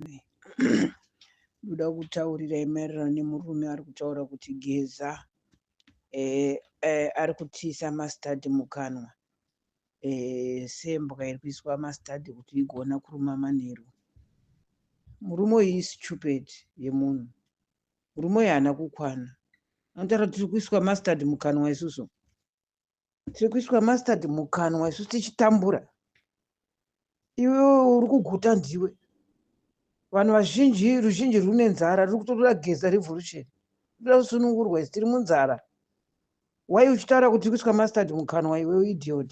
murume ndoda kutaurira maererano nemurume ari kutaura kuti geza eh, eh, ari kutiisa mastadi mukanwa eh, sembwa iri kuiswa mastadi kuti igona kuruma manheru murume uyu istupid yemunhu murume uyu haana kukwana anotara tiri kuiswa mastadi mukanwa isusu tiri kuiswa mastard mukanwa isu tichitambura iwe uri kuguta ndiwe vanhu vazhinji ruzhinji rune nzara riri kutotoda geza revolution toda kusunungurwa isi tiri munzara wai uchitaura kuti tiri kuiswa mastard mukanwa iwe idiot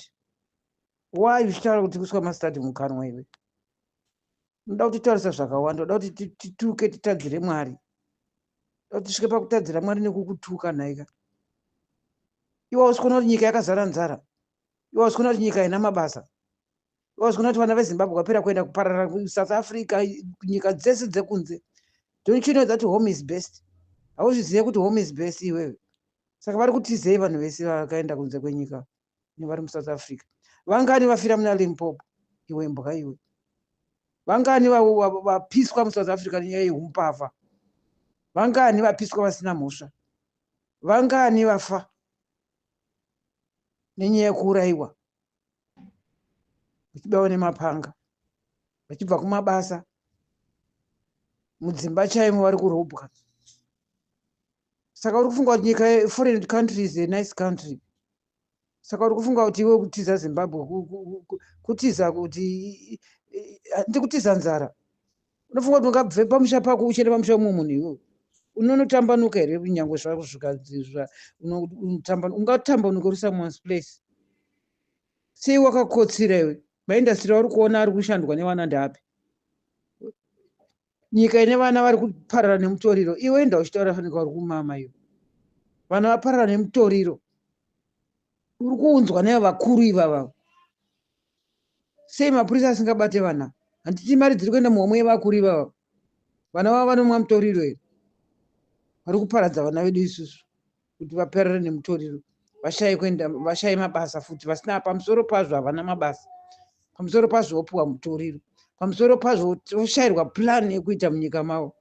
why uchitaura kuti kuiswa mastad mukanwa iwe unoda kutitaurisa zvakawanda unoda kuti tituke titadzire mwari unoda kuti tisvike pakutadzira mwari nekukutuka nhaika iwe usikona kuti nyika yakazara nzara iwe usikona kuti nyika haina mabasa iwe usikona kuti vana vezimbabwe vapera kuenda kuparara south africa nyika dzese dzekunze don't you know that home is best hauzvizive kuti home is best iwewe saka vari kutizei vanhu vese vakaenda kunze kwenyika nevari musouth africa vangani vafira muna limpopo iwe mbwa iwe vangani vapiswa musouth africa nenyaya yehumpavha vangani vapiswa vasina mhosva vangani vafa nenyaya yekuurayiwa vachibawa nemapanga vachibva kumabasa mudzimba chaimo vari kurobwa saka uri kufunga kuti nyika foreign country is a nice country saka uri kufunga kuti iwe kutiza zimbabwe kutiza kuti handi kutiza nzara unofunga kuti ungabve pamusha pako uchende pamusha umwe munhu iwewe unonotambanuka here kunyange zvakusvika ungatambanuka uri someone's place sei wakakotsira iwe maindastry auri kuona ari kushandwa nevana ndaapi nyika ine vana vari kuparara nemutoriro iwe enda uchitaura fanirwa uri kumama iyo vana vaparara nemutoriro uri kuunzwa nayo vakuru ivava sei mapurisa asingabate vana handiti mari dziri kuenda muhomwe yevakuru ivava vana vavo vanomwa mutoriro here vari kuparadza vana vedu isusu kuti vaperere nemutoriro vashaye kuenda vashaye mabasa futi vasina pamusoro pazvo havana mabasa pamusoro pazvo vopiwa mutoriro pamusoro pazvo voshayirwa plan yekuita munyika mavo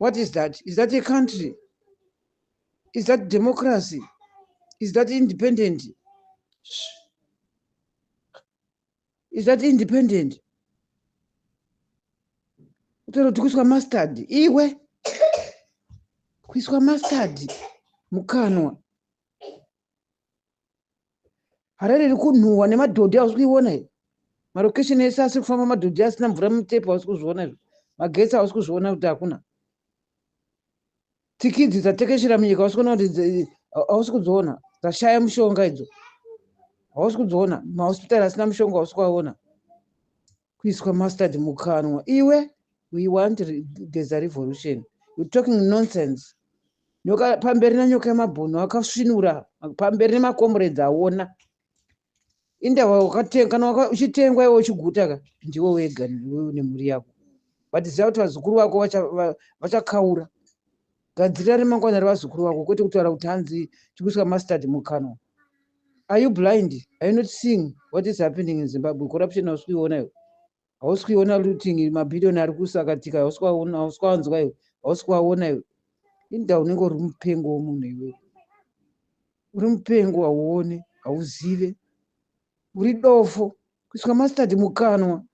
what is that is that a country is that democracy is that independent is that independent utoroti kuiswa mustard iwe kuiswa mustard mukanwa harare iri kunhuhwa nemadhodhi ausi kuiona i marocation ese asiri kufamba madhodhi asina mvura mutepu ausi kuzviona izvo magetsi ausi kuzviona kuti hakuna Tiki idzi dzatekeshera munyika hausi kuona kuti hausi kudziona dzashaya mushonga idzo hausi kudziona mahospitari asina mushonga hausi kuaona kuiswa mustard mukanwa iwe we want there's a revolution you talking nonsense nyoka pamberi na nyoka yemabhunu akasvinura pamberi nemakomrades aona inda wakatenga kana waka- uchitengwa iwe uchiguta ka ndiwe wega iwewe nemhuri yako but ziva kuti vazukuru vako vacha- va- vachakaura gadzirira remangwana revazukuru vako kwete kutaura kuti hanzi tikuisa mustard mukanwa are you blind are you not seeing what is happening in zimbabwe corruption hausi kuiona iwe hausi kuiona looting mabhiriyoni ari kusakatika hausi kwaona hausi kwawanzwa iwe hausi kwaona iwe inda unenge uri mupengo womunhu iwewe uri mupengo hauone hauzive uri dofo kuiswa mastadi mukanwa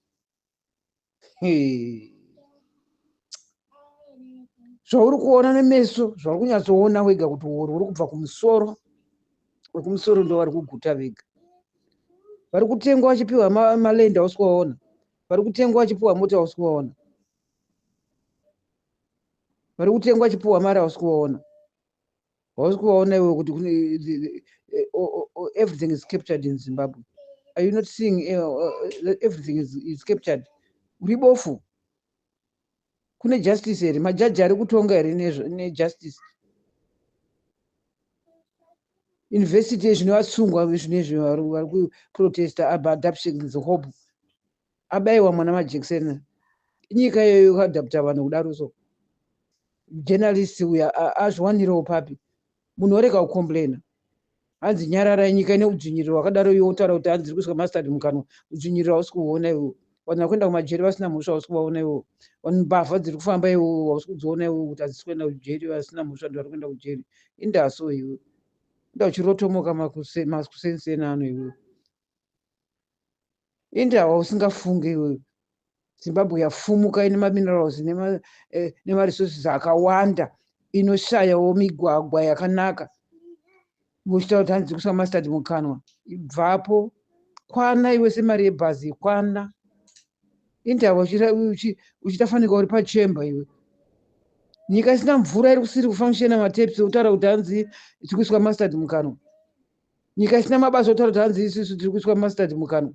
zvauri kuona nemeso zvauri kunyatsoona wega kuti wori uri kubva kumusoro vekumusoro ndo vari kuguta vega vari kutengwa vachipiwa malenda ma usikuvaona vari kutengwa vachipiwa mota usikuvaona vari kutengwa vachipiwa mari ausikuvaona hausi kuvaona iwe kuti everything is captured in zimbabwe are you not seeing uh, uh, everything is, is captured uri bofu kune justice here majaji ari kutonga here nejustice university yezvine vasungwa zvinezvi vari kuprotesta abadaption dzehope abaiwa mwana majekiseni inyika iyoyo kadapta vanhu kudaro so journalist uya azviwanirewo papi munhu orega kucomplaina hanzi nyararai nyika ine udzvinyiriro wakadaro iwe wotaura kuti hanzi iri kuiswa mastard mukanwa udzvinyiriro hausi kuhuona iwo vanhu vakuenda kumajeri vasina mhosva hausi kuvaona iwo vanhu mbavha dziri kufamba iwo hausi kudziona iwo kuti hadzisi kuenda kujeri vasina mhosva ndi vari kuenda kujeri indaso iwe inda uchirotomoka makusenseni ano iwe ende awa usingafunge iwewe zimbabwe yafumuka ine maminerals eh, nemaresources akawanda inoshayawo migwagwa yakanaka muchitaura kuti hanzi kuswa mastard mukanwa ibvapo kwana iwe semari yebhazi kwana indava uchita fanika uri pachemba iwe nyika isina mvura iri kusiri kufanishena matepsi utaura kuti hanzi tikuiswa mastard mukanwa nyika isina mabasa otaura kuti hanzi isusu tiri kuiswa mustard mukanwa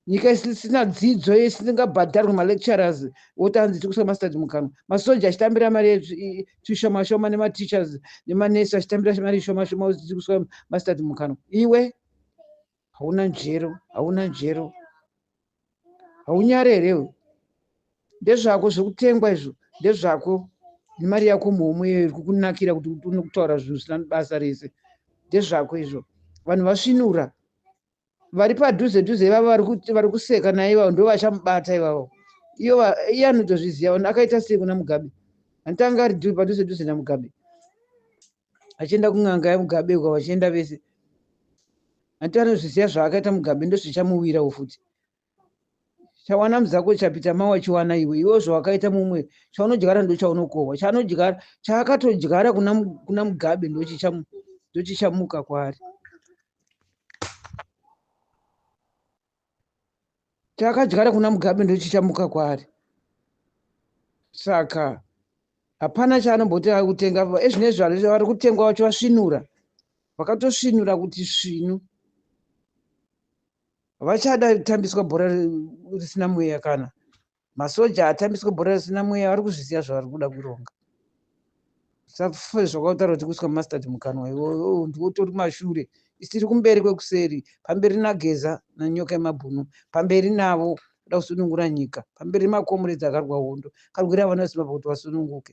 nyika isina dzidzo isingabhadharwi malecturers woti hanzi tiri kuiswa mustard mukanwa masoja achitambira mari tushomashoma nemateachers nemanesi achitambira mari ishomashoma kuti tiri kuiswa mustard mukanwa iwe hauna njero hauna njero haunyare here iwe ndezvako zvekutengwa izvo ndezvako nemari yako muhomwe iyoyo iri kukunakira kuti une kutaura zvinhu zvisina basa rese ndezvako izvo vanhu vasvinura vari padhuze dhuze ivavo vari kuseka naye ivavo ndo vachamubata ivavo iyo iye anotozviziva akaita sei kuna mugabe anditanga ari padhuze dhuze namugabe vachienda kun'anga yamugabe uko vachienda vese hanti anozviziva zvaakaita mugabe ndozvichamuwirawo futi chawana muzako chapita ma wachiwana iwe iwe zvawakaita mumwe chaunodyara ndochaunokohwa chaanodyara chaakatodyara kuna mugabe ndochichamuka kwaari takadyara kuna mugabe ndochichamuka kwaari saka hapana chaanomboti ari kutenga ezvinezvi eh, vari kutengwa vacho vasvinura vakatosvinura kuti svinu vachada tambiswa bhora risina mweya kana masoja atambiswe bhora risina mweya vari kuzviziva zvavari kuda kuronga safe zvakautaura kuti kuiswa mastad mukanwa iwoyo ndiwo utori mashure isiri kumberi kwekuseri pamberi nageza nanyoka yemabhunu pamberi navo kuda kusunungura nyika pamberi makomuredzi akarwa hondo karwira vana vesimba pakuti vasununguke